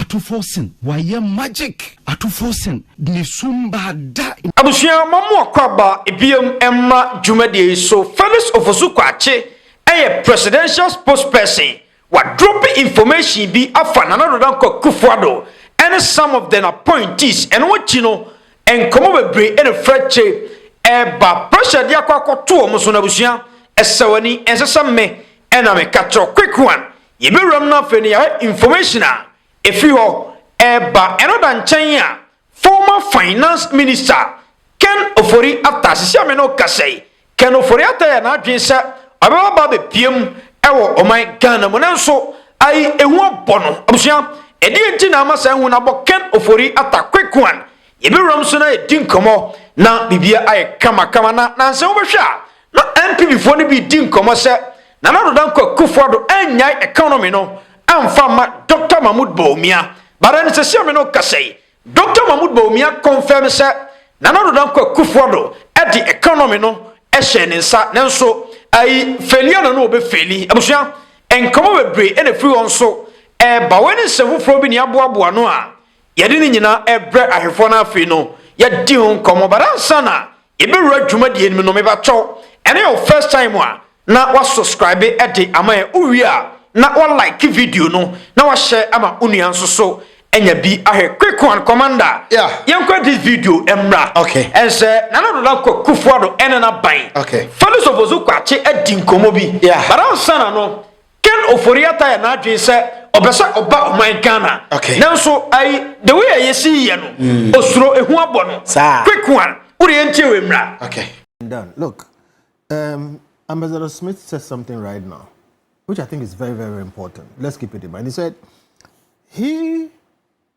Atufoɔ sen wayɛ magic. Atufoɔ sen ne sum baa da. Abusua ma mo akwaaba biom mma dwumadie yi so Felix Ofosu Kwakye yɛ presidential spokesperson wadrope information bi afa Nana Addo Dankwa Akufo Addo ne some of den appointees ɛno akyi no nkɔmɔ bebree na fira kye ɛba pressure de akɔ akɔto wɔn so no abusua ɛsɛ wani ɛnsɛ sɛ me na me ka kyerɛ quick one Yɛbɛwura mu no afei no yɛahwɛ information a ɛfiri hɔ ɛreba. Ɛno da nkyɛn a, former finance minister Ken Ofori Atta, sisi a me ne wo kasa yi, Ken Ofori Atta yɛ n'adwene sɛ ɔbɛba ba abɛpue mu wɔ ɔman Ghana mu. Nanso ayi ehu abɔ no. Abusua, ɛdeɛn nti na ama saa ehu no abɔ Ken Ofori Atta? Quick one, yɛbɛwura mu so na yɛdi nkɔmmɔ na biribiara ayɛ kamakama. Na nansa wobɛhwɛ a, Na NPPfoɔ no bi di nkɔmmɔ sɛ Nana Addo Dankwa Akufo-Addo annyae economy no amfa amma Dɔkta Mahmoud Bawumia. But ɛnnɛ sɛsi a me ne wo kasa yi, Dɔkta Mahmoud Bawumia confirm sɛ Nana Addo Dankwa Akufo-Addo de economy no hyɛɛ ne nsa. Nanso ayi failure na na wɔbɛfaili. Abusua, nkɔmmɔ bebree na ɛfiri hɔ nso ɛreba. Wei ne nsɛm foforɔ bi na yɛaboaboa ano a yɛde ne nyinaa rebrɛ ahwɛfoɔ no afei no yɛadi ho nkɔmmɔ. But ansa na Yɛbɛwura dwumadie no mu no mepakyɛw ɛno yɛ wo first time a na wa subscribe de ama yɛn wo wie a na wa like video no na wa share ama wo nua nso so anya bi ahwɛ quick one commander yeah. yɛn kɔ this video mmra okay. ɛnsɛ nana do na kɔ kufuado ɛne na ban okay. fɛlɛ sɔfo so kɔ akye adi nkɔmɔ bi yeah. baransa na no Ken Ofori Atta yɛ n'adwene sɛ ɔpɛ sɛ ɔba ɔman Ghana. Okay. Nanso ayi the way a yɛsi yɛ no mm. osuro ehu abɔ no. Saa. Quick one. Wode yɛn tie wɔ mmira. Okay. Done. Look, um, Ambassador Smith said something right now, which I think is very, very, very important. Let's keep it in mind. He said he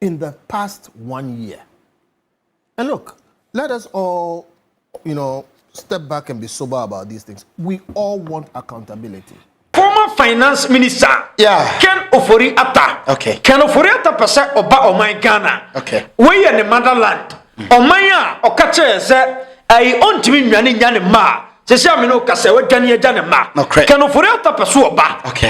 in the past one year and look let us all you know step back and be sober about these things we all want accountability former finance minister yeah. ken ofori ata okay. ken ofori ata pɛ sɛ ɔba ɔman ghana okay. woyɛ ne motherland ɔman mm. a ɔka kyerɛ sɛ ɛyi ɔntumi nnwane nya ne mma a sisi amina okasa wadwane agya ne mma ken ofori ata pɛ so ɔba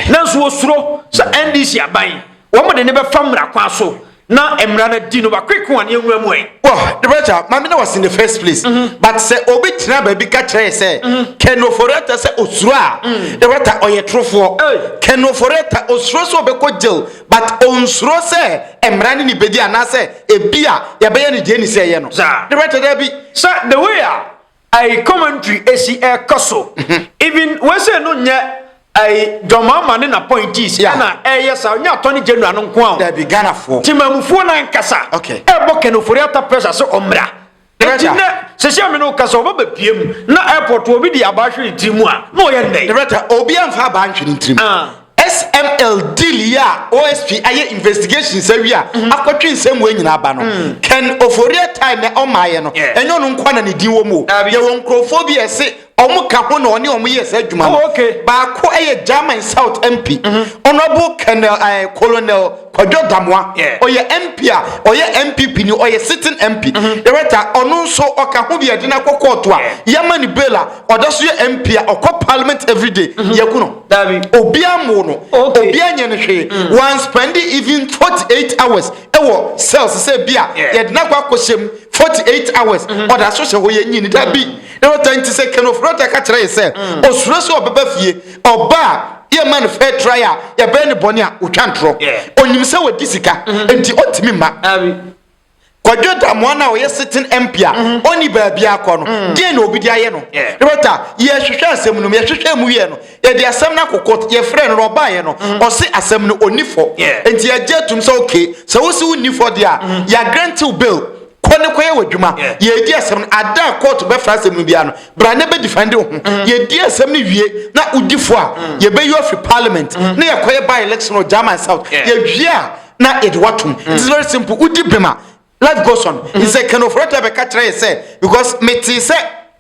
nanso wɔsuro sɛ ndc aban Wɔde no bɛfa mmara kwan so na mmara no adi no wakweke wɔn nwura mu ɛ. Wɔ the brother maame na was in the first place mm -hmm. but sɛ obi tena baabi ka kyerɛ yɛ sɛ mm -hmm. kenoforeta sɛ osuro a mm -hmm. the brother ɔyɛ torofoɔ hey. kenoforeta osuro sɛ ɔbɛkɔ jail but onsuro sɛ mmara ne ne bɛdi anaasɛ ebi a yɛbɛyɛ ne deɛ ne sɛ ɛyɛ no the brother daabi sɛ the way a Ayi commentary esi ɛkɔ so. Even wei sei no nyɛ ayi John Mahama ne n'appointees Yeah. ɛna ɛyɛ saa ɔnyɛ attorney general no nko a o. Dabi Ghanafoɔ. Temamufoɔ no ankasa Okay. ɛbɔ Ken Ofori Atta pressure sɛ ɔmmra. Enti Director. nnɛ sɛsi a me ne wo kasa ɔba bɛpue mu na airport obi de abaa hwere ne tiri mu a na ɔyɛ nnɛn. Director, obiara mfa abaa nhwɛ ne tirim. Ah. SML deal yi a OSP ayɛ investigations awie a mhm. akɔtwe nsɛm wɔ nyinaa ba no mm. Ken Oforiatta time na ɔmaayɛ no ɛnyɛ ɔno nkoa na ne din wɔ mu yɛwɔ nkurɔfoɔ bi ɛse ɔmo ka ho na ɔne ɔmo yɛ saa adwuma no oh, baako ɛyɛ German South MP mhm. Honourable Colonel eh, Kwadwo Damoah, ɔyɛ MP a ɔyɛ NPP ni, ɔyɛ sitting MP, director, ɔno nso ɔka ho bi a yɛde no akɔ kɔɔto a yɛama no bail a ɔda so yɛ MP a ɔkɔ parliament everyday, yɛaku no, obiara ammoo no, obiara anyɛ no hwee, wan spend even 48 hours wɔ cells sɛ bi a yɛde no akɔ akɔhyɛ mu 48 hours, ɔda so hyɛ hɔ yɛnyii no, dabi, director, nti sɛ Ken Ofori-Atta ka kyerɛ yɛn sɛ osuro sɛ ɔbɛba fie, Ɔba a yɛma no fair trial a, yɛbɛyɛ no bɔne a, ɔtwa ntorɔ. Ɔnim sɛ wadi sika, mm-hmm. nti ɔntumi mma. Kwadwo Damoa no a ɔyɛ sitting MP a mm-hmm. ɔnni baabi akɔ no, mm. deɛ na obi de ayɛ no. Rɛta, yɛhwehwɛ asɛm no mu, yɛhwehwɛ mu wiɛ no, yɛde asɛm no akokɔ, yɛfrɛ no na ɔbaeɛ no, mm-hmm. ɔse asɛm no ɔnni fɔ. Nti yɛgye atum sɛ okay, sɛ wosi wonni fɔ deɛ a, yɛagrɛntew bail. Kɔ ne kɔyɛ w'adwuma. Yɛredi asɛm no, ada a kɔɔto bɛfra asɛm no biara no, bra na bɛdifɛnde wo ho. Yɛdi asɛm no wie na wodi fɔ a, yɛbɛyi wo afiri Parliament na yɛakɔyɛ by-election wɔ German South. Yɛwie a, na yɛde wo atom. It is very simple. Wodi bem a, life goes on. Nti sɛ Ken Ofori-Atta bɛka kyerɛ yɛn sɛ because metee sɛ.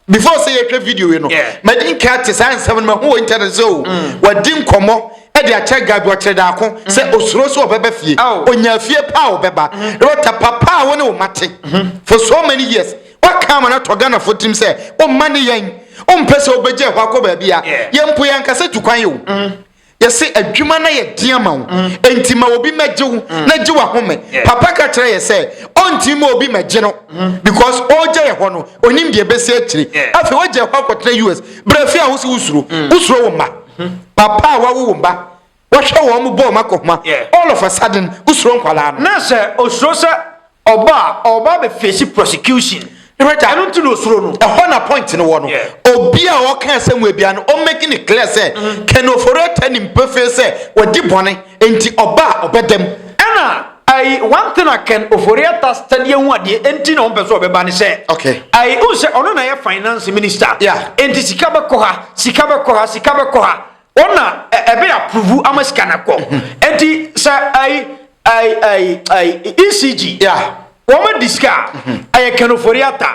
before sɛ yɛhwɛ video yi no madi nka te saa nsɛm no mahu wɔ internet sɛ o mm. wadi nkɔmmɔ ɛde akyɛ ga bi ɔkyerɛ daako mm. sɛ osuro so ɔbɛba fie oh. onya fie pa a ɔbɛba mm-hmm. rɔta papa a wɔne wɔn ate mm-hmm. for so many years waka ama no atɔ ghanafoɔ tirim sɛ ɔmma ne yɛn ɔmpɛ sɛ ɔbɛgya ɛhɔ akɔ baabi a yɛn mpo yɛn ankasa tu kwan yi o mm-hmm. Yɛse adwuma no ayɛ den ama wo, enti ma obi mmɛgye wo na gye w'ahome. Papa ka kyerɛ yɛn sɛ ɔntumi mma obi mmɛgye no because ɔregya yɛn hɔ no, ɔnim deɛ ɛbɛsi akyire. Afei wagya yɛn hɔ akɔtena US. Bra fie a wo se wo suro, wo suro wo mma. Papa a wawo wo mma, wahwɛ wɔn bɔ wɔn akɔhoma, all of a sudden wo suro nkwadaa no. Na sɛ osuro sɛ Ɔba a ɔba abɛ face prosecution. Rita. Ɛno nti na osuro no. Ɛhɔ na point no wɔ no. Yeah. Obi a ɔka asɛm wɔ ebia no, ɔn make ne clear sɛ mm. Ken Ofori-Atta nim pefee sɛ wadi bɔne, nti ɔba a ɔbɛdam. Ɛna ayi one thing a Ken Ofori-Atta study ho adeɛ nti na ɔmpɛ sɛ ɔbɛba ne sɛ. Okay. Ayi n sɛ ɔno na yɛ finance minister. Yeah. Nti sika bɛkɔ ha, sika bɛkɔ ha, sika bɛkɔ ha. wɔn na ɛbɛ approve ama sika na kɔ nti sɛ ayi ayi ayi ayi ecg wɔn adi sika ɛyɛ kɛnɛfori ata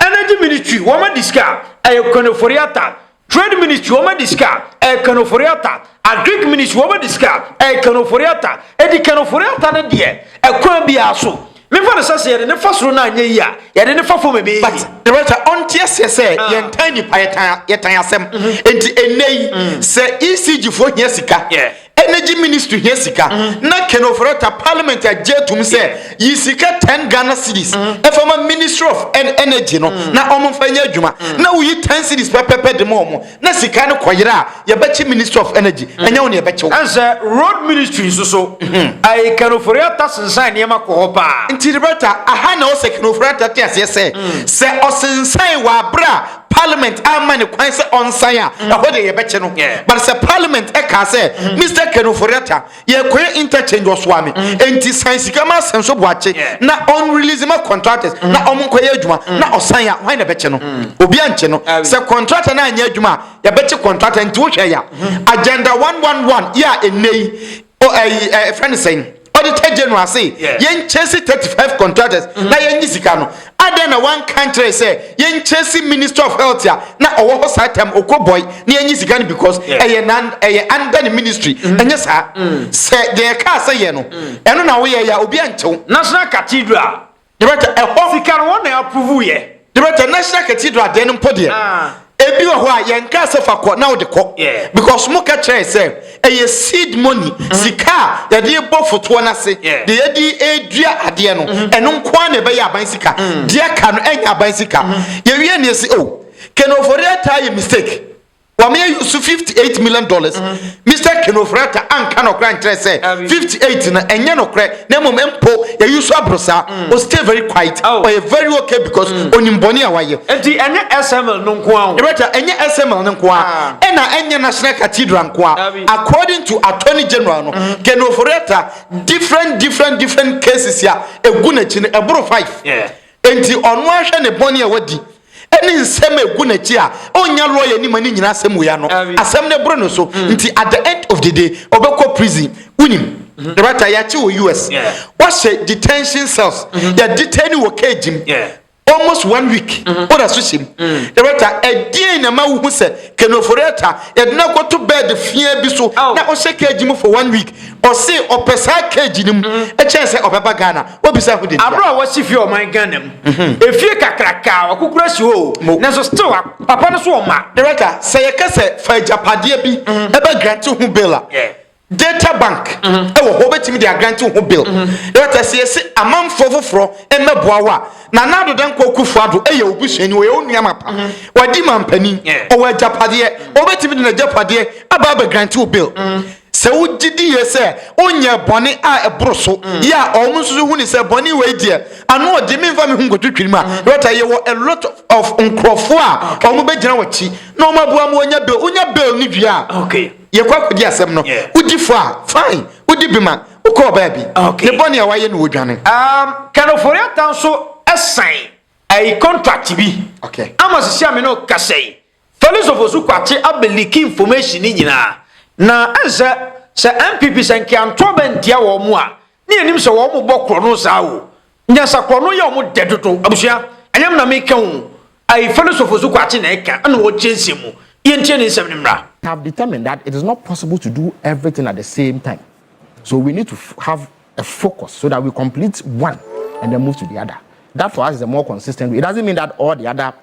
energy ministry wɔn adi sika ɛyɛ kɛnɛfori ata trade ministry wɔn adi sika ɛyɛ kɛnɛfori ata agric ministry wɔn adi sika ɛyɛ kɛnɛfori ata edi kɛnɛfori ata ne deɛ ɛkwan biara so. Memfa no sɛ sɛ yɛde no fa soro no anyɛ yie a, yɛde no fa fam ɛbɛyɛ yie. But Loretta, ɔnte aseɛ sɛ ah. yɛntan nnipa, yɛtan, yɛtan asɛm. Mm-hmm. Enti ɛnnɛ yi, mm. sɛ ECG foɔ hia sika, yeah. energy ministry hia sika, mm-hmm. na Ken Ofori-Atta parliament agye atum sɛ yeah. yi sika 10 Ghana cedis mm-hmm. ɛfa ma ministry of energy no, mm. na ɔmomfa nyɛ adwuma, mm. na woyi 10 cedis pɛpɛpɛ de ma ɔmo. Na sika no kɔ yera a yɛbɛkye ministry of energy ɛnyɛ wo na yɛbɛkye wo. Ɛnsɛ road ministry nso so ae kanofori ata sensan nneɛma kɔ hɔ paa. Nti Roberta aha na ɔsɛ kanofori ata te aseɛ sɛ sɛ ɔsensan wɔ abere a parliament amma no kwan sɛ ɔnsan a ɛhɔ deɛ yɛbɛkye no but sɛ parliament ɛkaa sɛ Mister kanofori ata Yɛkɔyɛ interchange ɔsoa me mm. enti san sika ma asɛm so boakye na ɔn release ma contractors mm. na ɔmo nkɔyɛ adwuma mm. na ɔsan ya hwan na ɛbɛkye no obi ankye no sɛ contractor na anyɛ adwuma a yɛbɛkye contractor nti wohwɛ ya mm-hmm. agenda 111 yɛ a ɛnɛ yi ɛfrɛ ne sɛn auditor general se yɛnkyɛ si 35 contractors mm-hmm. na yɛnyi sika no Adɛn na wanka nkyerɛ sɛ yɛnkyɛ si ministry of health a na ɔwɔ hɔ saa tam okɔ boy na yɛnyi sika no because ɛyɛ nan ɛyɛ under ne ministry mm. ɛnyɛ saa mm. sɛ deɛ ɛka sɛ yɛ no mm. ɛno na woyɛ yɛ obi ankyɛw national cathedral debɛtɛ ɛhɔ sika no wɔn na approve yɛ debɛtɛ national cathedral deɛ no mpɔ deɛ ah. Ebi wɔ hɔ a yɛn kaa sɛ fa kɔ na wode kɔ because mo ka kyerɛɛ sɛ ɛyɛ seed money mm-hmm. sika a yɛde bɔ fotoɔ no ase de yɛde ɛdua adeɛ no mm-hmm. ɛno nko ara na ɛbɛyɛ aban sika mm. deɛ ka no ɛnyɛ aban sika mm-hmm. yɛwie ne ɛsi o oh, kɛnɛ ofori ataa yɛ mistake wɔn yɛ yusu fifty eight million dollars. Mister Kinofrata anka no koraa nkyerɛ sɛ Ah, really? 58 no ɛnyɛ nokorɛ na mmom mpo yɛyi so aboro saa mm. o stay very quiet oh. ɔyɛ very okay because mm. onim bɔne a wayɛ enti ɛnyɛ SML no nko ara Director ɛnyɛ SML no nko ara ah. ɛna ɛnyɛ National Cathedral nko ara ah, according to Attorney General no mm. Kinofrata different different different cases a ɛgu n'akyi no ɛboro 5 yeah. enti ɔno ahwɛ ne bɔne a wadi ne nsɛm a egu n'akyi a ɔnnya lɔya anim ne nyinaa asɛm wei ano Awi. asɛm no boro ne so mm. nti at the end of the day ɔbɛkɔ prison wonim mm-hmm. dɛbɛta yɛakye wɔ us yeah. wahyɛ detention cells mm-hmm. yɛ detain wɔ cage mu yeah. almost one week mm-hmm. ɔda so hyɛ mu mm. dɛbɛta ɛdeɛn na ma wohu sɛ kenoforɛta yɛde no akɔto bɛɛd fiaa bi so oh. na ɔhyɛ cage mu for one week ɔse ɔpɛ saa cage no mu ɛkyɛn sɛ ɔbɛba ghana wobisa ho dibea. Abro a wɔsi fie ɔman Ghana mu. Mhm. Efie kakraka a ɔkokora si hɔ o. Nanso still papa no so ɔma. Director, sɛ yɛka sɛ fa agyapadeɛ bi mhm. ɛbɛ grant ho bill a. Data bank mhm. ɛwɔ hɔ wobɛtumi de agrant ho bill. Director, sɛ yɛsi amanfoɔ foforɔ mmɛboa wo a na na adoda nkɔ kufu ado ɛyɛ obi suani wɔyɛ onua ma pa. Wadi mampanin. Ɔwɔ agyapadeɛ. Wɔbɛtumi de n'agyapadeɛ aba abɛ grant ho bill. Mm -hmm. Sɛ wogye di yie sɛ wonyɛɛ bɔne a ɛboro so yɛ a, wɔn nso so huni sɛ bɔne wei deɛ, ano ɔgye, memfa me ho nkotwitwiri mu a, yɛbɛtaa yɛwɔ a lot of nkurɔfoɔ a wɔn bɛgyina w'akyi na wɔn aboa ma wɔnya bail. Wonya bail no wie a, yɛkɔ akɔdi asɛm no, wodi fɔ a, fine, wodi bem a, wokɔɔ baabi, ne bɔne a wayɛ no wodwane. Um, Ken Ofori-Atta nso sign ɛyi contract bi. Okay. Ama sisi a me ne wo kasa yi, Felisofo so kwakye aba leaky information no nyinaa na ɛnsɛ sɛ NPP sɛ nkeantoa bɛ ntia wɔn mo a ne yɛnim sɛ wɔn mo bɔ korɔno saa o nyansa korɔno yɛ wɔn dɛ dodo abusua ɛnyɛ me na meka o ai Felisofo so kwakye na ɛka ɛna ɔkyerɛ nsɛm mu yɛntie ne nsɛm no mmra. have determined that it is not possible to do everything at the same time so we need to have a focus so that we complete one and then move to the other that for us is a more consistent way it doesn't mean that all the other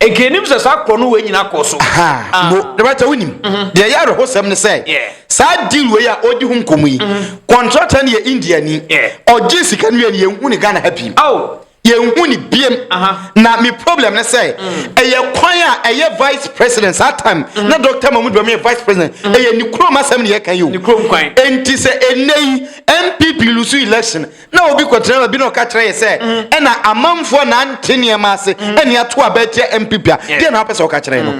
Nkanim sɛ saa korɔno wei nyina kɔɔ so. Ahaa, mbo, ah. dɛbɛkyɛ wonim, mhm. deɛ ɛyɛ awerɛhosɛm ne sɛ, saa deal wei a ɔdi ho nkɔmu yi, kɔntratɛ mhm. no yɛ India ni, ɔgye sika no wie no yɛnhu ne Ghana ha biem. yɛnhu ne biem na me problem ne sɛ mm. ɛyɛ kwan a ɛyɛ vice president saa time mm. na dr mahmud bɛmɛ yɛ vice president mm. ɛyɛ ne kurom asɛm ne yɛka yi o enti sɛ ɛnɛ yi mpp lusu election na obi kɔtena baabi na ɔka kyerɛ yɛ sɛ ɛna amanfoɔ a nante nneɛma ase ɛne ato aba atia mpp a deɛ na wapɛ sɛ ɔka kyerɛ no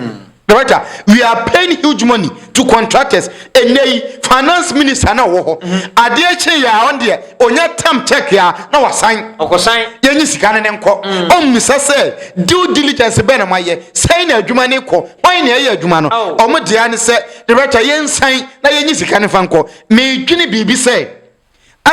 director we are paying huge money to contractors ɛnɛ yi finance minister na ɔwɔ hɔ adeɛ kye yɛ a ɔn deɛ ɔnya tam check a na wasan ɔkɔsan yɛnyi sika no ne nkɔ ɔmmisa sɛ due diligence bɛn na moayɛ sɛn na adwuma ne kɔ hwan na ɛyɛ adwuma no ɔmo deɛ ne sɛ director yɛnsan na yɛnyi sika no fa nkɔ medwene biribi sɛ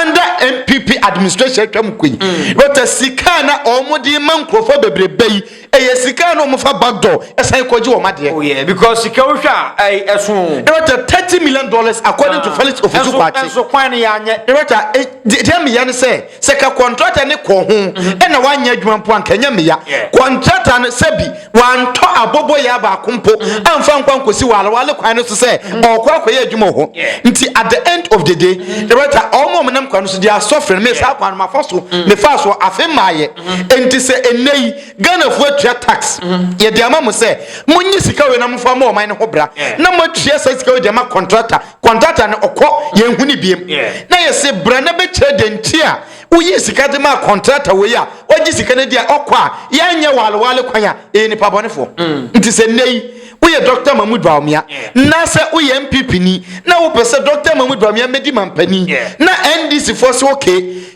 under npp administration atwa mu kɔ yi mm. dɔkta sika na wɔn de ma nkurɔfoɔ bebrebe yi ɛyɛ sika na wɔn fa backdoor ɛsan kɔgye wɔn adeɛ. oh yeah because sika wohwɛ a ɛyɛ ɛso. dɔkta thirty million dollars according to ah. felix ofusu kwakye. ɛnso kwan ne yanyɛ. dɔkta deɛ mmeya ne sɛ sɛ ka kɔntrata ne kɔ ho mhm. ɛna wanyɛ adwuma mpo anka ɛnyɛ mmeya kɔntrata no sɛbi. wantɔ aboboyaa baako mpo amfa nkɔ ankosi wɔ alewale kwan no so sɛ ɔrekɔ akɔyɛ adwuma wɔ hɔ. Nti at the end of the day, Loretta, wɔn a wɔnam kwan no so de asɔfre no mee saa kwan no mafa so, mefaa so, afei mmaeɛ. Enti sɛ nnɛ yi Ghanafoɔ atua tax, yɛde ama mo sɛ monyi sika wei na momfa mmɔ ɔman no ho bra, na moatua saa sika wei de ama kɔntrata, kɔntrata no ɔkɔ, yɛnhu no biom. Na yɛse bra na bɛkyerɛ deɛ nti a Woyii sika de maa kɔntrata wei a wagye sika no di a ɔkɔ a yɛnyɛ walewale kwan a ɛyɛ nipa bɔnefoɔ. Mm. Nti sɛ nnɛ yi woyɛ Dr. Mahmoud Bawumia na sɛ woyɛ MPP ni na wopɛ sɛ Dr. Mahmoud Bawumia mmɛdi mampanin na NDC foɔ so oke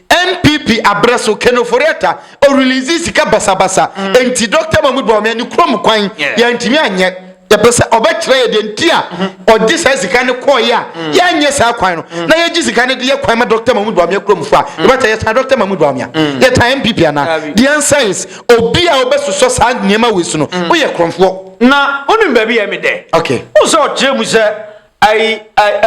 MPP abrɛ so Ken Ofori-Atta ɔrelease sika basabasa mm. nti Dr. Mahmoud Bawumia ne kurom kwan yɛntumi anyɛ yɛpɛ sɛ ɔbɛkyerɛ yɛ deɛ nti a ɔgye saa sika no kɔɔeɛ a yɛanyɛ saa kwan no na yɛgye sika no de yɛ kwan ma dɔkta mahmud bawumia kuromfoɔ a yɛbɛta yɛtaa dɔkta mahmud bawumia yɛtaa mpp anaa the answer is obi a wobɛsosɔ saa nneɛma wei so no woyɛ kuromfoɔ na wonim baabi yɛ me dɛ okay wo sɛ ɔkyerɛ mu sɛ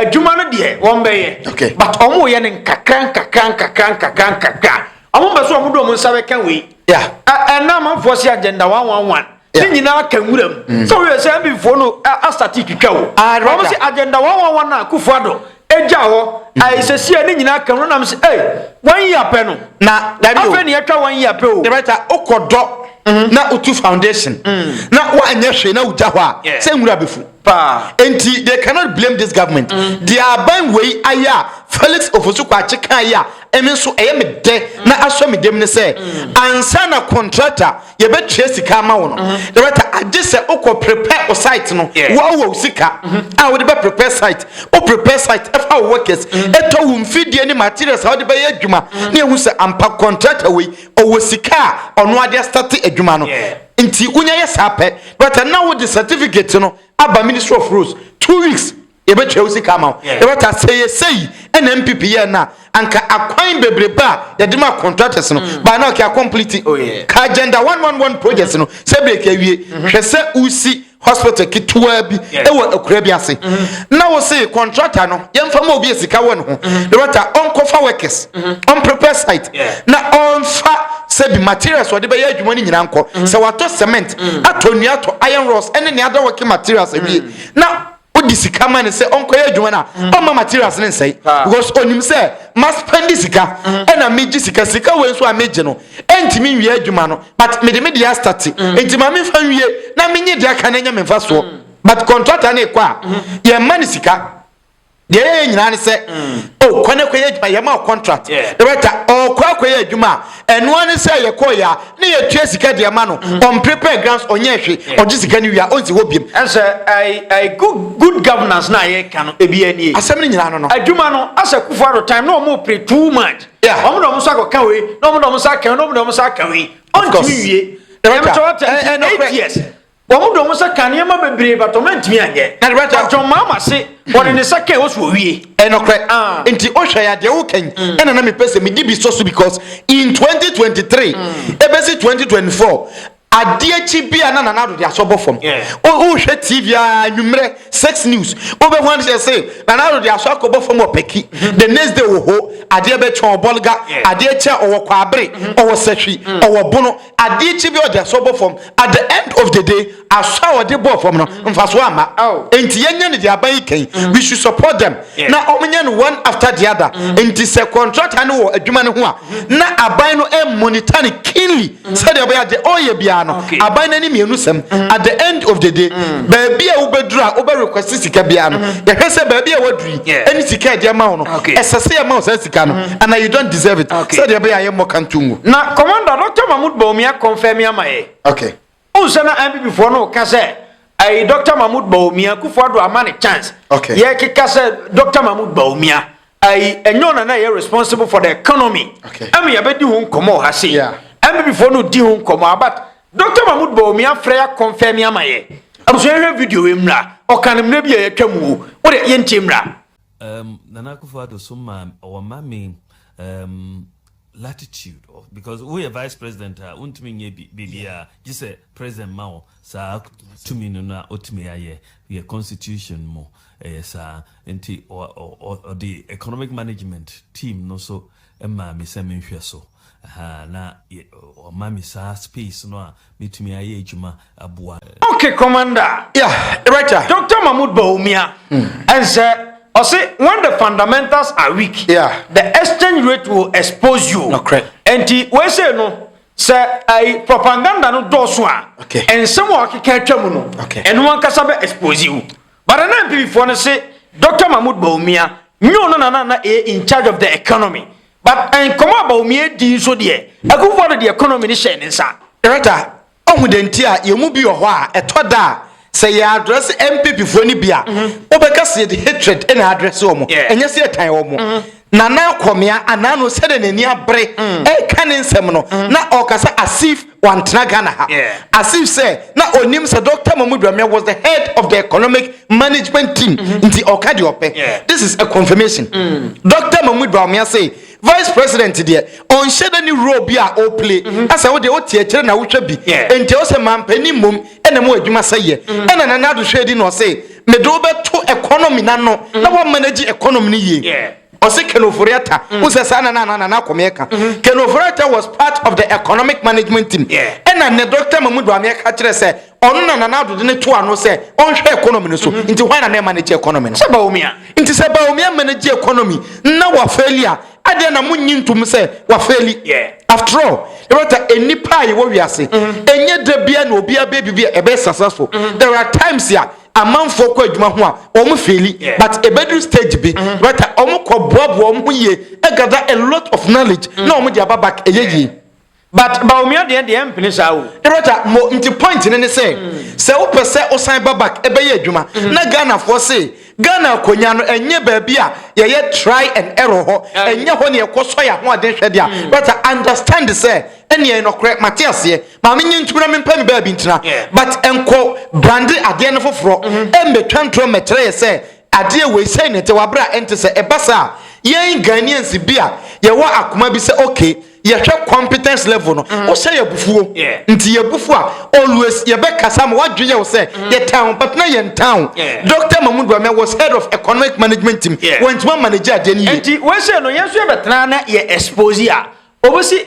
adwuma no deɛ wɔn bɛyɛ okay but wɔn yɛ no nkakra nkakra nkakra nkakra nkakra wɔn bɛ so wɔn de wɔn nsa bɛka wei yeah ɛnna amanfoɔ si agenda one one one ne nyinaa ka nwura mu mm. sɛ woyɛ sɛ mbifoɔ no asate twitwa wo ah, wɔm sɛ agenda wɔwawa no a kufoɔ adɔ ɛgya hɔ mm. ayɛsɛsiɛ ne nyinaa ka nwura nam sɛ ei wɔn yi apɛ no na afei ne yɛtwa wɔn yi apɛ o dɛbɛta wokɔdɔ mm-hmm. na wotu foundation mm. na woanyɛ hwee na wogya hɔ a sɛ nwura bɛfu Paa enti they cannot blame this government deɛ aban wei ayɛ a Felix Ofosu Kwakye kaa yi a ɛme nso ɛyɛ me dɛ na asɔ me dam ne sɛ ansa na contractor yɛbɛtua sika ama wo no director agye sɛ wokɔ prepare wo site no wo wɔ wo sika a wode bɛ prepare site wo prepare site ɛfa wo workers ɛtɔ wo mfidie ne materials a wode bɛyɛ adwuma na yɛhu sɛ ampa contractor wei ɔwɔ sika a ɔno ade astate adwuma no Nti wonya yɛ saa pɛ but na wode certificate no aba ministry of roads two weeks yɛbɛtwa wo sika ama wo yɛbɛta sɛ yɛ sɛ yi ɛna mpp yɛ no a anka akwan bebrebe a yɛde ma contractors no mm. baa na ɔkɛ complete oh, ka agenda 111 projects no sɛ breki awie mm-hmm. hwɛ sɛ wosi hospital ketewaa bi wɔ akura bi ase mm-hmm. na wose contractor no yɛmfa ma obi a sika wɔ ne ho mm-hmm. director ɔnkɔfa workers mm-hmm. ɔmprepare site na ɔmfa sɛbi materials ɔde bɛyɛ adwuma no nyinaa nkɔ sɛ watɔ cement atɔ nnua atɔ iron rods ɛne ne ada working materials awie na wode sika ma no sɛ ɔnkɔyɛ adwuma no a mm. ɔma materials no nsɛe because ɔnim sɛ maspɛnde sika mm. ɛna megye sika sika wei nso a megye no ɛntumi nwie adwuma no but mede me deɛ astate mm. nti ma memfa nwie na menye deɛ aka no anya memfa soɔ but contractor no ɛkɔ a yɛmma no sika deɛ yɛyɛ nyinaa ne sɛ ɔkɔ no akɔyɛ adwuma yɛma wo contract ɛbɛta ɔkɔ akɔyɛ adwuma a Ɛno ara ne sɛ yɛkɔe a na yɛtua sika de ma no. Ɔmpere pɛɛ grants, ɔnyɛɛ hwe, ɔgye sika no wie a ɔnsi hɔ biom. Ɛnsɛ I, I, good, good governance no a yɛreka no ebiaa nie. Asɛm no nyinaa no no. Adwuma no, asɛ Kufu Addo time na ɔmo pere too much. Yeah. Ɔmo de ɔmo nsa kɔka wei, na ɔmo de ɔmo nsa aka wei, na ɔmo de ɔmo nsa aka wei. Ɔntumi nwie. Ɛnam sɛ wate nti eight years. Wɔn dɔ mu sɛ ka nneɛma bebree but wɔn antumi anyɛ. Na deɛ bɛkyɛ. John Mahama se ɔde ne nsa kɛn osu owie. Ɛyɛ nɔkorɛ Ah. nti ohwɛ ya deɛ woka yi mm. ɛna na me pɛ sɛ me di bi sɔ so because in 2023 mm. ebesi 2024 adeɛ kyi bi a na nana ado de asɔ bɔ fam yeah. wohwɛ tv a nwummerɛ sex news wobɛhu ade sɛ se nana ado de asɔ akɔ bɔ fam ɔpɛki mm-hmm. the next day wɔ ho adeɛ bɛtwɛn ɔbɔlga yeah. adeɛ kyɛ ɔwɔ kwabere mm-hmm. ɔwɔ sahwi mm. ɔwɔ bono Adeɛ kye bi ɔde asɔ bɔ fam at the end of the day asɔ a ɔde bɔɔ fam no mfasoɔ amma enti yɛnyɛ no deɛ aban yi kan we should support them na ɔmonyɛ no one after the other enti sɛ contractor no wɔ adwuma no ho a na aban no monitor no keenly sɛdeɛ ɔbɛyɛ a deɛ ɔreyɛ biara no aban no ani mmienu sɛm at the end of the day baabi a wobɛduru a wobɛ request sika biara no yɛhwɛ sɛ baabi a waduru yi ɛne sika a ɛde ama wo no ɛsɛ sɛ yɛma wo saa sika no and you don't deserve it okay. sɛdeɛ ɛbɛyɛ a yɛmmɔ kanto ngu na commander dr mahmud baomi akɔmfɛ mi ama yɛ okay. wohu sɛ na mppfoɔ no woka sɛ ayi dr mahmud baomi akufo ado ama ne chance okay. yɛkeka sɛ dr mahmud baomi ayi ɛnyɛ ɔna na ɛyɛ responsible for the economy okay. ɛma yɛbɛdi ho nkɔmmɔ ha se yeah. mppfoɔ no di ho nkɔmmɔ but dr mahmud baomi afrɛ yɛ akɔmfɛ mi ama yɛ abusua yɛhwɛ video yi mmra ɔka no mmerɛ bi a yɛatwa mu o wode yɛntie mmra Um, Nana Akufo-Addo so ma wɔma me um, latitude of because woyɛ vice president a wontumi nyɛ biribiara gye sɛ president ma wo saa tumi no na otumi ayɛ yɛ constitution mu ɛyɛ saa nti ɔde economic management team no so maa me sɛ menhwɛ so Ahaa na yɛ ɔma me saa space no a mɛtumi ayɛ adwuma aboa. Ok commander. Yeah director. Doctor Mahmoud Bawumia ɛnsɛ ɔse when the fundamentals are weak yeah the exchange rate will expose you nokorɛ ɛnti wei sei no sɛ ɛyi propaganda no dɔɔso a okay nsɛm a ɔkeka atwa mu no okay ɛno ankasa bɛ expose wo But nana mpibifɔ no se Doctor Mahmoud Bawumia nyo no na na na ɛyɛ in charge of the economy but nkɔmɔ a Bawumia dii nso deɛ Akuffo Addo de economy no hyɛɛ ne nsa. Director, Ohu deɛ nti a yɛn mu bi wɔ hɔ a ɛtɔ da a sɛ yɛ address MPPfoɔ no bi a, wobɛka sɛ yɛde hatred na address wɔn, ɛnyɛ sɛ yɛtan wɔn. Nana Kwamea anaa no sɛdeɛ n'ani abere mm. ɛka ne nsɛm no mm. na ɔka sɛ asif wantena Ghana ha asif sɛ na onim sɛ Dr. Mahmoud Bawumia was the head of the economic management team mm-hmm. nti ɔka deɛ ɔpɛ this is a confirmation mm. Dr. Mahmoud Bawumia say vice president deɛ ɔnhyɛ dɛ ne role bi a ɔreplay mm-hmm. asɛ wo deɛ wote akyire na wohwɛ bi nti ɔsɛ mampanin mmom ɛna mu adwuma sɛ yɛ mm-hmm. ɛna nana adohwɛ di na ɔse mede wo bɛto economy no ano mm. na woama no agye economy no yie ɔse kenoforiata mm. wo sɛ saa na nana nana akɔmeɛ ka mm-hmm. kenoforiata was part of the economic management team ɛna ne dɔkta mamu doameɛ ka kyerɛ sɛ ɔno na nana adode ne to ano sɛ ɔnhwɛ economy no so mm-hmm. nti hwan na ne manage economy no sɛ baomia nti sɛ baomia manage economy na wafɛli a Adɛn na munnye ntom sɛ wɔafeeli? After all, yɛbɛta nnipa a yɛwɔ wiase. Ɛnyɛ da biara na obiara bɛyɛ biribi a ɛbɛyɛ successful. There are times a amanfoɔ kɔ adwuma ho a wɔfeeli, but ɛbɛduru stage bi, yɛbɛta wɔkɔboaboa wɔn ho yie, gather a lot of knowledge na wɔde aba back ɛyɛ yie. But Bawumia deɛ deɛ ɛmpene saa o. Director mo nti point no ne sɛ sɛ wopɛ sɛ wosan ba back bɛyɛ adwuma na Ghanafoɔ se Ghana akonya no ɛnyɛ baabi a yɛyɛ try and error hɔ ɛnyɛ hɔ na yɛkɔ sɔ yɛn ahoɔden hwɛ deɛ a better understand sɛ ɛneɛ yɛ nɔkorɛ mate aseɛ ma menyɛ ntum na mempɛ me baabi ntena but nkɔ brande adeɛ no foforɔ mmɛtwa ntorɔ mmɛkyerɛ yɛ sɛ adeɛ wei sɛi na ɛte wɔ aberɛ a ɛnte sɛ ɛba saa a yɛn Ghanaians bi a yɛwɔ akoma bi sɛ okay yɛhwɛ competence level no mm. wohyɛ yɛ abufuo nti yɛ abufuo a always yɛbɛkasa ma woadwe yɛ wo sɛ mm. yɛtan wo but na yɛntan wo dr mahmud wamia was head of economic management team wɔntuma manage adeɛ no yie nti wɔhyɛ no yɛn nso yɛbɛtena na yɛ expose a ɔbɛsi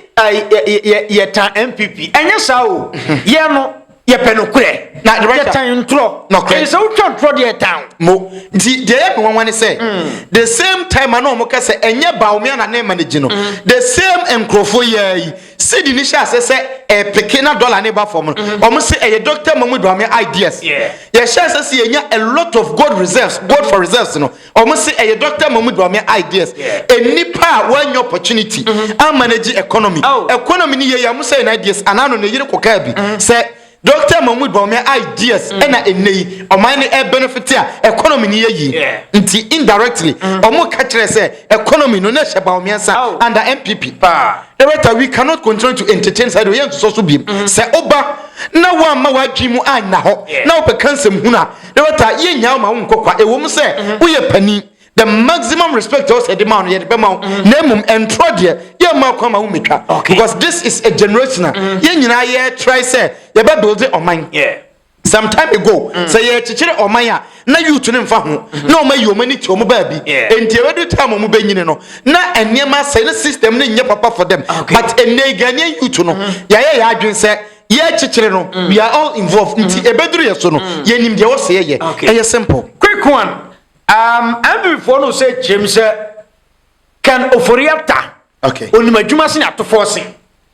yɛtan npp ɛnyɛ saa o yɛ no yɛpɛ nokorɛ na yɛtan ntorɔ nokorɛ sɛ wotwa ntorɔ deɛ ɛtan mo nti deɛ yɛ me nwanwa ne sɛ mm. the same time a na wɔn ka sɛ ɛnyɛ baomia na ne ma no gye no mm. the same nkurɔfoɔ yɛa yi sidi ne hyɛ ase sɛ ɛpeke na dɔla ne ba fam no mm-hmm. wɔn sɛ ɛyɛ dr mamu baomia ideas yɛhyɛ ase sɛ yɛnya a lot of gold reserves gold for reserves no Ɔmo se ɛyɛ Doctor Mahmoud Bawumia ideas, nnipa a wɔannya opportunity a manage economy, economy no yieyɛ a ɔmo sɛe no ideas anaa no ne yere kɔkaa bi sɛ Doctor Mahmoud Bawumia ideas na ennɛ yi ɔman no ɛɛbenefit a economy no yɛ yie nti indirectly ɔmo ka kyerɛɛ sɛ economy no na ɛhyɛ Bawumia nsa under NPP. Director, we cannot continue to entertain saa deɛ ɔyɛ nsosɔ so biom. Sɛ woba na woamma w'adwene mu anna hɔ na wobɛka nsɛmhunu a, Dorota, yennyaa wo ma wonkɔ kwa. Ɛwom sɛ woyɛ panin, the maximum respect ɛwɔ sɛ yɛde ma wo no yɛde bɛma wo, mm-hmm. na mmom ɛntorɔ deɛ yɛmma kwan ma wommɛtwa. Because this is a generational. Mm-hmm. Yɛn nyinaa yɛtrae sɛ yɛbɛbuilde ɔman. Yeah some time ago mm. sɛ yɛkyekyere ɔman a na youth no mfa ho mm-hmm. na ɔma yi ɔma ni ti ɔmo baabi nti ɛbɛdu time ɔmo bɛnyini no na nneɛma sɛ ne system no nyɛ papa for them but ɛnɛ ghanaian youth no mm-hmm. yɛayɛ yɛ adwene sɛ yɛrekyekyere no mm. we are all involved nti mm-hmm. ɛbɛduru yɛ so no mm. yɛnim deɛ wɔsɛ yɛyɛ ɛyɛ simple quick one um, mvfoɔ no sɛ kyerɛm sɛ kan ofori ata okay. onim adwuma se ne atofoɔ se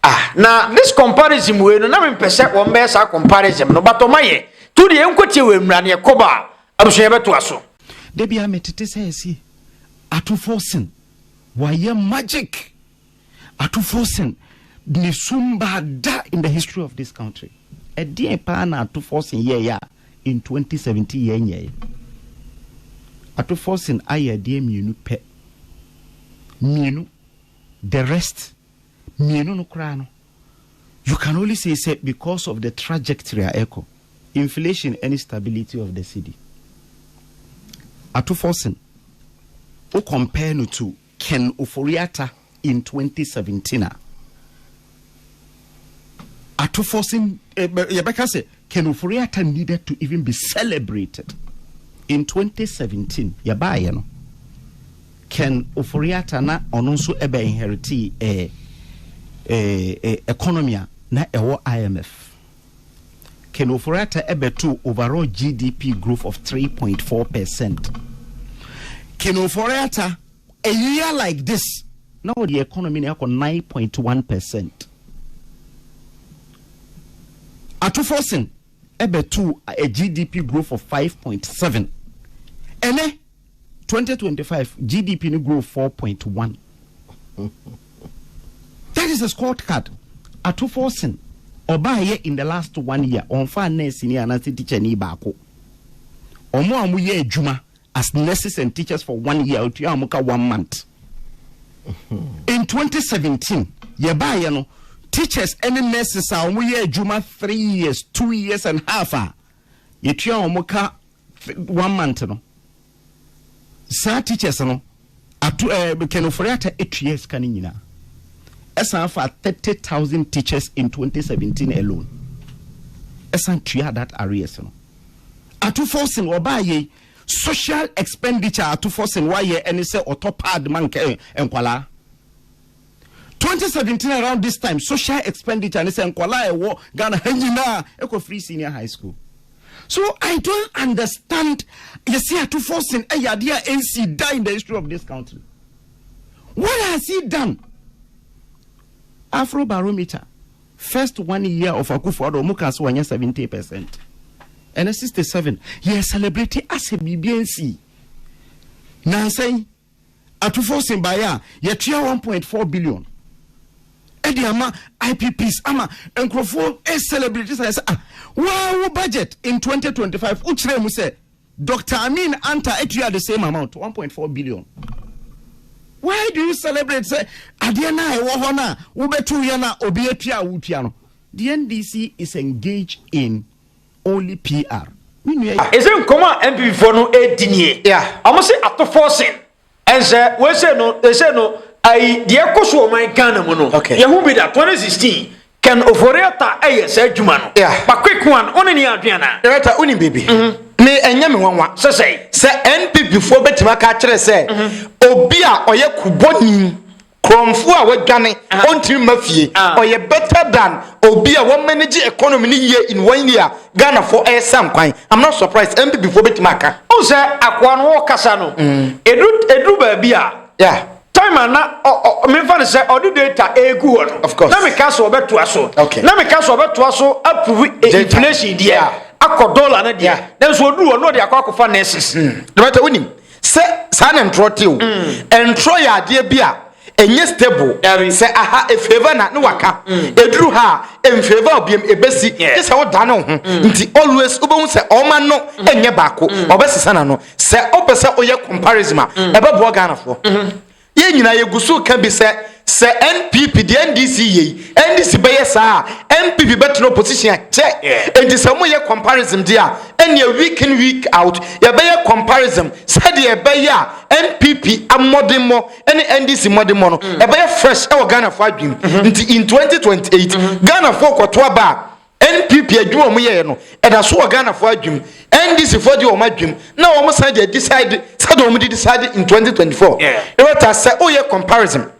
ah. na this comparison wei no na mempɛ sɛ wɔn bɛyɛ saa comparison no but ɔma yɛ to deɛ ɛnkɔtie wɔ mmura ne ɛkɔba a abusua bɛtoa so da bia metete sɛ ɛsi atofoɔ sen wayɛ magic Atufoɔ Sen ne sum baa da in the history of this country. Ɛdeɛn paa na Atufoɔ Sen yɛɛyɛ a in 2017 yɛn nyɛɛyɛ? Atufoɔ Sen ayɛ ɛdeɛn mmienu pɛ. Mmienu. The rest, mmienu no koraa no, you can only say sɛ because of the trajectory a ɛkɔ, inflation ɛne stability of the cedi. Atufoɔ Sen, wo compare no to. Ken Ofori-Atta in twenty seventeen a, atofoɔ se yɛbɛka sɛ Ken Ofori-Atta needed to even be celebrated. In twenty seventeen yɛbaeɛ no, Ken Ofori-Atta na ɔno nso ɛbɛ inheritee eh, eh, eh, economy a na ɛwɔ IMF. Ken Ofori-Atta bɛtoo overall GDP growth of three point four percent. Ken Ofori-Atta, a year like this, na ɔde economy no akɔ nine point one percent. Ato Forson bɛtoo a GDP growth of five point seven. Ɛnɛ Twenty twenty five GDP no grow four point one. That is a scored card. Ato forcing. Ọba yɛ in the last one year. Ọnfa nurse ni anase teacher ni baako. Ọmọ a ọmọ yɛ adwuma as nurses and teachers for one year. Otua ọmọ ka one month. In 2017, yɛ ba yɛ no teachers ɛne nurses a wɔn yɛ adwuma three years two years and half a yɛtua wɔn ka one month no saa teachers no ato ɛɛ eh, kɛnofori ata etua sika no nyinaa ɛsan afa thirty thousand teachers in twenty seventeen alone ɛsan tua that arrears no ato forcing ɔbaa yɛ social expenditure ato forcing wayɛ ɛne sɛ ɔtɔ pad ma nkɛ eh, nkwadaa 2017 around this time social expenditure ne sɛ nkɔla a ɛwɔ ghana ha nyinaa ɛkɔ free senior high school so i don't understand yɛsi ato forcing ɛyɛ adeɛ a ɛnsi da in the history of this country what has he done afro barometer first one year of akufo ado ɔmo kaa sɛ wɔnyɛ 70 percent ɛnɛ 67 yɛ celebrate asɛ biribi ɛnsi nansan Atufoɔ sen baeɛ a, yɛtua one point four billion ɛde ama IPPs ama nkurɔfoɔ e celebrate sɛ sɛ ah waa wo budget in twenty twenty five wo kyerɛ mu sɛ Doctor Amin Anta atua the same amount one point four billion why do you celebrate sɛ adeɛ na ɛwɔ hɔ na wobɛtu yɛ na obi atua a wotua no the NDC is engaged in Only PR. Me nua yi. Ese nkɔmɔ a NPP foɔ no redi nie. Ɔmo se ato forcing. Ɛnsɛ wei sei no ɛsei no ayi deɛ ɛkɔ so wɔ ɔman Ghana mu no yɛ hu bi da 2016 Ken Ofori-Atta ɛyɛ saa adwuma no but quick one wo ne ne yɛ adwene anaa? Director wo nim biribi me ɛnyɛ me nwanwa sɛ NPP foɔ bɛtumi aka akyerɛ sɛ obi a ɔyɛ kubɔni Korɔmfoɔ a wadwane, ɔntumi mma fie. Ɔyɛ better than obi a wa manage economy no yie in one year a Ghanafoɔ ɛresa nkwan. I'm not surprised NPP foɔ bɛtumi aka. Wohu sɛ Akoa no wokasa no, ɛduru baabi a, time a na memfa no sɛ ɔde data ɛregu hɔ no, na meka sɛ ɔbɛtoa so. Na meka sɛ ɔbɛtoa so approve inflation deɛ akɔ dollar no deɛ, nanso ɔduru hɔ na ɔde akɔ akɔfa nurses. Dɔmata, wonim. Sɛ saa na ntorɔ te o. Mm. Ntorɔ yɛ adeɛ bi a ɛnyɛ stable. Dari. Sɛ aha efeeva na ne waka. Mm. Eduru ha a emfeeva obiem ebesi. Yeah. Gye sɛ wodane wo ho. Mm. Nti always wobɛhu sɛ ɔma no mm. ɛnyɛ baako. Mm. Ɔbɛsesa n'ano. Sɛ wopɛ sɛ woyɛ comparison a mm. ɛbɛboa Ghanafoɔ. Mm -hmm. Yɛn nyinaa yɛgu so reka bi sɛ, sɛ NPP de NDC yɛ yi, NDC bɛyɛ saa a, NPP bɛtena opposition a, kyɛ! Enti sɛ wɔyɛ comparism deɛ a, ɛnneɛ week in week out, yɛbɛyɛ comparism sɛdeɛ ɛbɛyɛ a NPP mmɔdemmɔ ne NDC mmɔdemmɔ no, ɛbɛyɛ fresh wɔ Ghanafoɔ adwenem. Nti in 2028, Ghanafoɔ rekɔto aba a, NPP adwuma a wɔn yɛɛ no ɛda so wɔ Ghana foɔ adwem, NDC foɔ de wɔn adwem na wɔn san de adecide sɛdeɛ wɔn de decide in 2024. Let us sɛ woyɛ comparison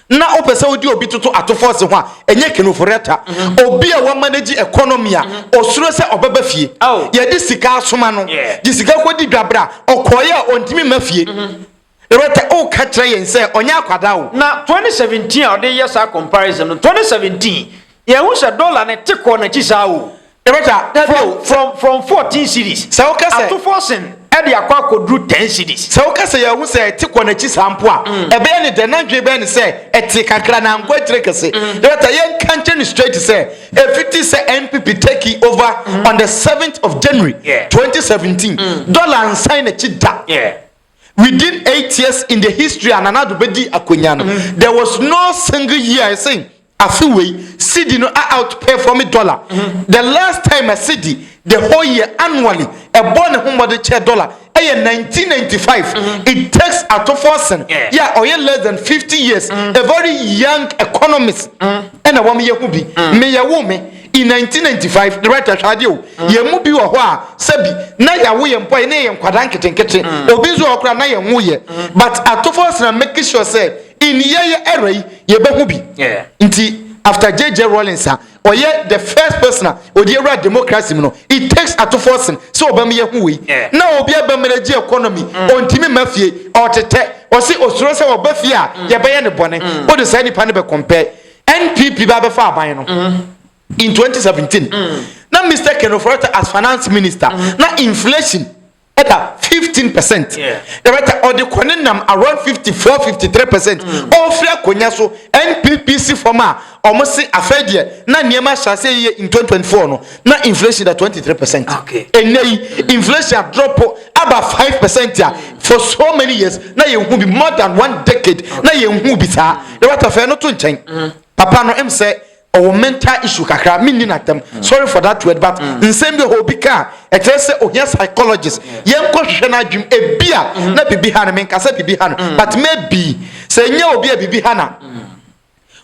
na wopɛ sɛ wode obi toto atofoɔ se ho a, ɛnyɛ kenoforɛta. Mm-hmm. Obi a wɔn manage economy a mm-hmm. osuro sɛ ɔbɛba fie. Oh. Yɛde sika asoma no, de sika kɔdi dwabra, ɔkɔeɛ a ɔntumi ma fie. Mm-hmm. Loretta, Woka kyerɛ yɛn sɛ ɔnyɛ akwadaa o. Na 2017 a ɔde reyɛ saa comparison no, 2017, yɛnhu sɛ dɔla no te kɔɔ n'akyi saa o. Loretta, Dabi o, sɛ. From, from fourteen cedis, Sɛ woka sɛ. ato four cen de akɔ akɔduru ten cedis. Sɛ woka sɛ yɛahu sɛ ɛte kɔɔ n'akyi saa mpo a, ɛbɛyɛ ne dɛn? N'adwene bɛyɛ no sɛ ɛtee kakra na ankɔ akyire kɛse. Loretta, Yɛnka nkyerɛ no straight sɛ, ɛfiti sɛ NPP take over on the seventh of January, Yeah. 2017, dɔla ansan n'akyi da. Yeah. Within eight years in the history a Nana Addo bɛdi akonnwa no, there was no single year a yɛse afe wei cedi no a outperform dollar. The last time a cedi the whole year annually ɛbɔɔ ne ho mmɔden kyɛɛ dollar yɛ 1995. It takes atofoɔ sen yɛ a ɔyɛ less than fifty years, a very young economist ɛna wɔyɛ ho bi. Meyɛ wo me. In nineteen ninety five, ne right ahwɛ adeɛ o. Mm. Yɛn mu bi wɔ hɔ a sɛbi na yɛawo yɛn mpo a yɛne yɛn nkwadaa nketenkete. Mm. Obi nso wɔ hɔ koraa na yɛn ho yɛ. Mm. But atofo asena make sure sɛ in yɛyɛ era yi yɛbɛho bi. Yeah. Nti after JJ Rawlings a ɔyɛ the first person a ɔde awura democracy mu no it takes atofo asen sɛ ɔbɛm yɛ ho wei. Yeah. Na obi abɛm no gye economy mm. ɔntumi ma fie ɔtetɛ ɔse osuro sɛ ɔba fie a mm. yɛbɛyɛ ne bɔne. Mm. Wode saa nipa no bɛ compare NPP ba bɛfa aban no in 2017 na Mr Ken Ofori-Atta as finance minister na inflation ɛda 15 percent ɛbɛta ɔde kɔ ne nam around 54 53 percent ɔfiri akonnwa so NPP si fam a wɔn se afei deɛ na nneɛma ahyɛ ase yie in 2024 no na inflation da twenty three percent ɛnɛ yi inflation adrɔpo aba five percent a for so many years na yɛn hu bi more than one decade na yɛn hu bi saa na wata fɛn no to nkyɛn mm. papa no ɛm sɛ ɔwɔ mental issue kakra mi ni na tɛm mm. sorry for that word but mm. nsɛm bi hɔ obi ka ɛkyerɛ sɛ ohia psychologist yɛn kɔ hwehwɛ n'adwim ebi a na bibi ha no mi nkasa bibi ha no but maybe sɛ nye obi a bibi ha na.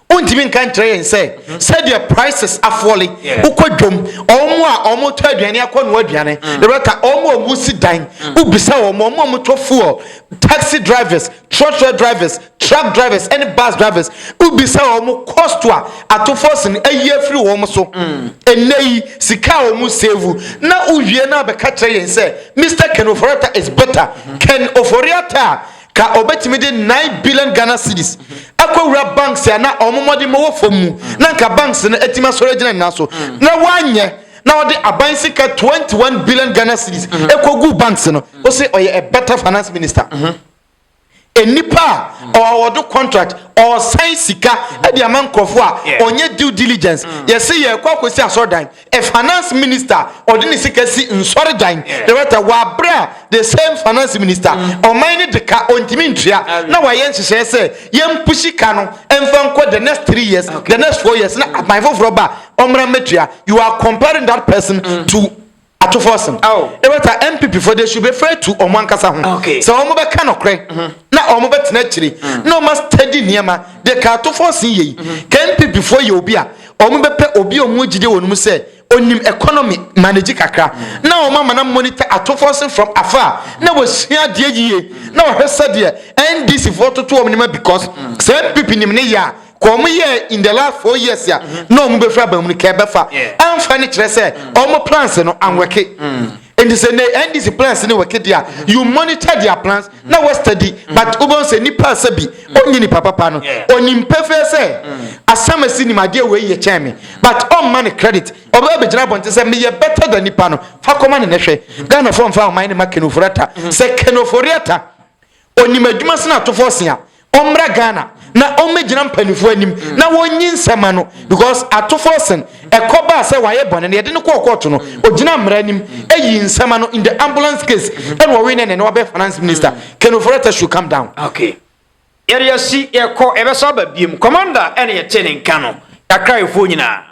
wontumi nka nkyerɛ yɛn sɛ mhm. sɛdeɛ prices afɔle wokɔ dwom ɔmo a ɔmo tɔ aduane akɔ no aduane mm. na bɛka ɔmo a ɔmo si dan mm. wobisa ɔmo ɔmo a ɔmo tɔ fuel taxi drivers trɔtrɔ drivers truck drivers ɛne bus drivers wobisa ɔmo cost a atofo sin ayi afiri wɔn so mm. ɛnɛ yi sika a ɔmo save na wowie na bɛka kyerɛ yɛn sɛ mr ken oforiata is better mm-hmm. ken oforiata a Ka obetumi de nine billion Ghana cedis akɔwura banks a na wɔn mmɔdemmɔ wɔ fam mu na nka banks no atumi asɔre agyina ne nan so na wanyɛ na ɔde aban sika twenty one billion Ghana cedis kɔguu banks no. Wose ɔyɛ a better finance minister. Nnipa a ɔawɔdo contract, ɔresan sika de ama nkurɔfoɔ a ɔnyɛ due diligence. Yɛse yɛrekɔ akɔsi asɔredan, Finance minister ɔde ne sika si nsɔre dan director wɔ abere a the same finance minister ɔman ne de ka ɔntumi ntua na wayɛ nhyehyɛɛ sɛ yɛn pushi ka no mfa nkɔ the next three years the next four years na aban foforɔ ba a ɔmmra mmɛtua you are comparing that person to Atuforsen director NPP foɔ they should be fair to ɔmo ankasa ho sɛ ɔmo bɛ ka nɔkorɛ na ɔmo bɛ tena akyire na ɔmo a steady nneɛma de ka Atuforsen yei ka NPP foɔ yɛ obi a Wɔbɛpɛ obi a wɔn mu gyidi wɔ no mu sɛ onim economy manage kakra na wɔn ama na monitor atofoɔ se from afar na wɔsua adeɛ yie na wɔhwɛ sɛdeɛ NDC foɔ toto wɔn nneɛma because sɛ NPP nim ne yɛ a ka wɔn yɛ in the last four years a na wɔn bɛfiri aban mu no ka ɛbɛfa amfa ne kyerɛ sɛ wɔn plans no anwɛke. nti sɛ ne ndc plans ne wɔke de a you monitor their plans na mm. wɔstudy mm. but wobɛhu sɛ nipa sɛ bi ɔnyi nipa papa no ɔnim pɛfɛɛ sɛ mm. asɛm asi nim adeɛ wei yɛ kyɛn me but ɔmma ne credit ɔbɛba bɛgyina abɔnten sɛ meyɛ better than nipa no fa kɔma ne nɛhwɛ ghanafoɔ mfa ɔman ne ma kenoforiata sɛ kenoforiata Onim adwuma sene atofo ɔsia. Ɔmmra Ghana na ɔmmɛgyina mpanimfoɔ anim mm. na wɔnyi nsɛm ma no because atofo ɔsen ɛkɔ baa sɛ wayɛ bɔne na yɛde no kɔɔ kɔɔto no mm. ɔgyina mmara anim ɛyi nsɛm ma no in the ambulance case mm-hmm. ɛna ɔwe ne ne ne wabɛ finance minister mm. Ken Ofori-Atta should come down. Okay. yɛde asi yɛkɔ ɛbɛsa aba biem kɔmanda ɛne yɛte ne nka no yɛakraefoɔ nyinaa